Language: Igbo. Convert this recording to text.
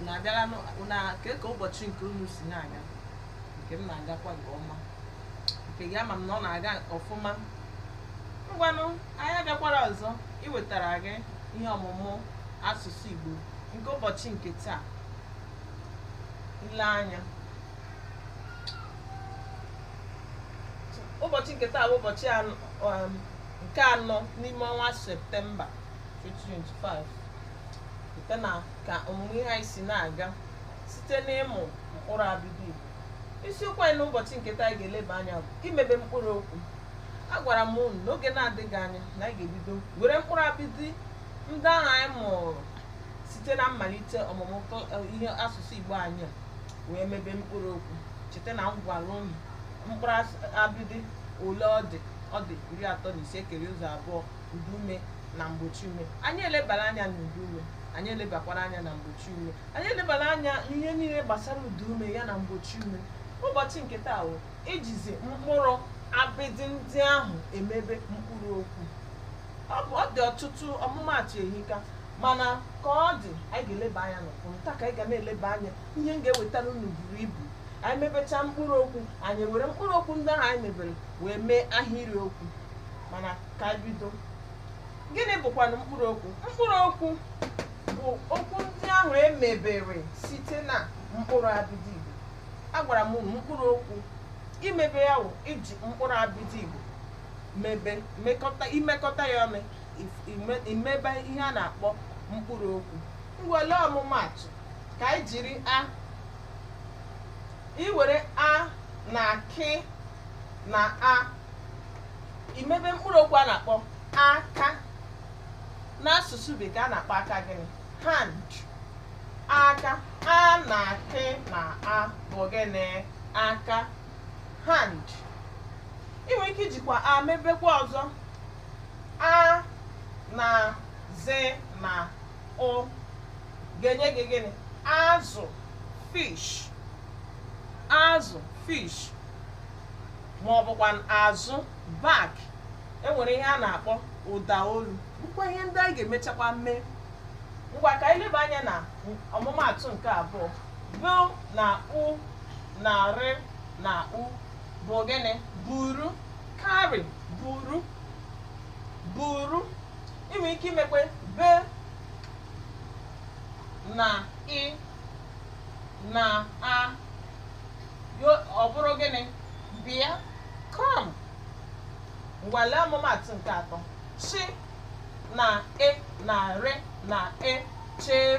unu abịala nụ- unu a- kee ka ụbọchị nke unu si na-aga nke m na-agakwa nke ọma nke gị ama m na ọ na-aga ọfụma ngwanụ anyị bịakwara ọzọ iwetara gị ihe ọmụmụ asụsụ igbo nke ụbọchị nke taa i lee anya ụbọchị nke taa bụ ụbọchị anọ- um, nke anọ n'ime ọnwa septemba 2025 site na ka ọmụmụ ihe anyị si na-aga site n'ịmụ mkpụrụ abịdị Igbo isiokwu anyị n'ụbọchị nke taa anyị ga-eleba anya bụ imebe mkpụrụ okwu agwara m unu n'oge na-adịghị anya na anyị ga-ebido were mkpụrụ abịdị ndị ahụ anyị mụrụ site na mmalite ọmụmụ kl- eh, ihe asụsụ Igbo anyị a wee mebe mkpụrụ okwu cheta na m gwara unu mkpụrụ as- abịdị ole ọ dị ọ dị iri atọ na isii kere ụzọ abụọ ụda ume na mgbochi ume anyị elebala anya na ụda ume anyị elebakwara anya na mgbochi ume anyị elebala anya n'ihe niile gbasara ụda ume ya na mgbochi ume ụbọchị nke taa bụ ijizi mkpụrụ abịdị ndị ahụ emebe mkpụrụ okwu ọ bụ ọ dị ọtụtụ ọmụmaatụ ehika mana ka ọ dị anyị ga-eleba anya n'ụfọdụ nta ka anyị ga na-eleba anya ihe m ga-ewetara unu buru ibu anyị mebechaa mkpụrụ okwu anyị were mkpụrụ okwu ndị ahụ anyị mebere wee mee ahịrị okwu mana ka anyị bido gịnị bụkwanụ mkpụrụ okwu mkpụrụ okwu bụ okwu ndị ahụ e mebere site na mkpụrụ abịdị igbo agwara m unu mkpụrụ okwu imebe ya wụ iji mkpụrụ abịdị igbo mebe mekọta imekọta ya ọnụ if- ime- imebe ihe a na-akpọ mkpụrụ okwu ngwa lee ọmụmaatụ ka anyị jiri a i were a na kị na a i mebe mkpụrụ okwu a na-akpọ aka n'asụsụ bekee a na-akpọ aka gịnị hand aka a na kị na a bụ gịnị aka hand ị nwere ike ijikwa a mebekwa ọzọ a na zị na ụ ga-enye gị gịnị azụ fish azụ fish ma ọ bụkwa azụ back e nwere ihe a na-akpọ ụda olu bụkwa ihe ndị anyị ga-emechakwa mee ngwa ka anyị leba anya na ọmụmaatụ nke abụọ bị na u na rị na u bụ gịnị buru carry buru buru i nwere ike imekwa bị na ị na a Yo- ọ bụrụ gịnị bịa kọọm ngwa lee ọmụmatụ nke atọ sị na e na re na e chere